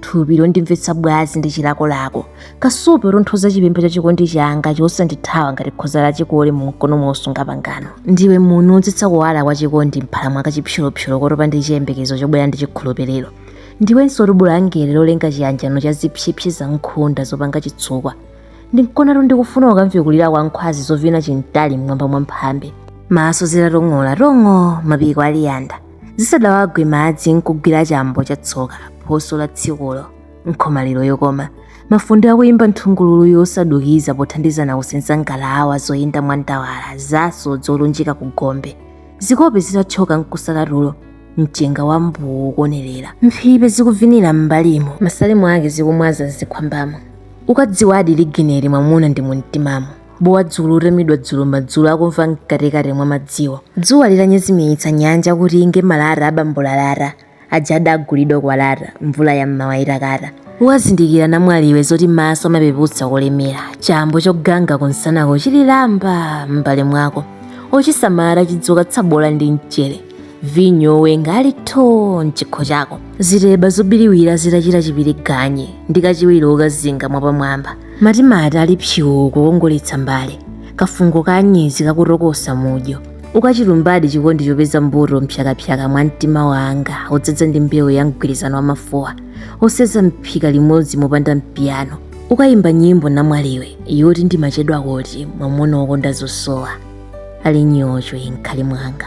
thupi londimvetsa bwazi ndi chilakolako kasupe wotonthoza chipemba cha chikondi changa chosandithawa ngati khoza la chikole mu mkono mosunga pangano ndiwe muuni wodzetsa kuwala kwa chikondi mphala mwa kachipsolopsolo kotopa ndi chiyembekezo chobwera ndi chikhulupiriro ndiwenso lubu la angelo lolenga chiyanjano cha zipsepse za nkhunda zopanga chitsukwa ndi mkonatu ndikufuna ukamve kulira kwa nkhwazi zovina chintali m'mwamba mwa mphambe maso zitatong'ola tong'o mapiko ali yanda zisadawagwe madzi nkugwira chambo cha tsoka phoso la tsikulo nkhomaliro yokoma mafunde akuyimba nthungululu yosadukiza pothandizana kusenza ngalawa zoyenda mwa ndawala za asodzi olunjika ku gombe zikope zitathyoka nkusala tulo mchenga wa mbuwu ukuonerera mphipe zikuvinira m'mbalimo masalimo ake zikumwaza zikhwambamo ukadziwadi ligineri mwamuna ndi mumtimamo bowa dzulo utamidwa dzulo madzulo akumva mkatikati mwa madziwo dzuwa litanyezimiritsa nyanja kuti inge malata abambolalata aja adagulidwa kwalata mvula ya mmawa itakata ukazindikira namwaliwe zoti maso amapeputsa kolemera chambo choganga kunsanako chili lamba m'mbale mwako ochisamala atachidzika tsabola ndi mchere vinyo owenga ali tho mchikho chako zitheba zobiriwira zitachita chipiringanye ndi kachewere okazinga mwapamwamba matimati ali psuu kukongoletsa mbale kafungo ka anyezi kakutokosa mudyo ukachilumbadi chikondi chopeza mbuto mpsakapsaka mwa mtima wanga odzadza ndi mbewu ya mgwirizano wa mafuwa osenza mphika limodzi mopanda mpiyano ukayimba nyimbo namwaliwe yoti ndimachedwa kuti mwamuna wokonda zosowa ali nyocho m'nkhali mwanga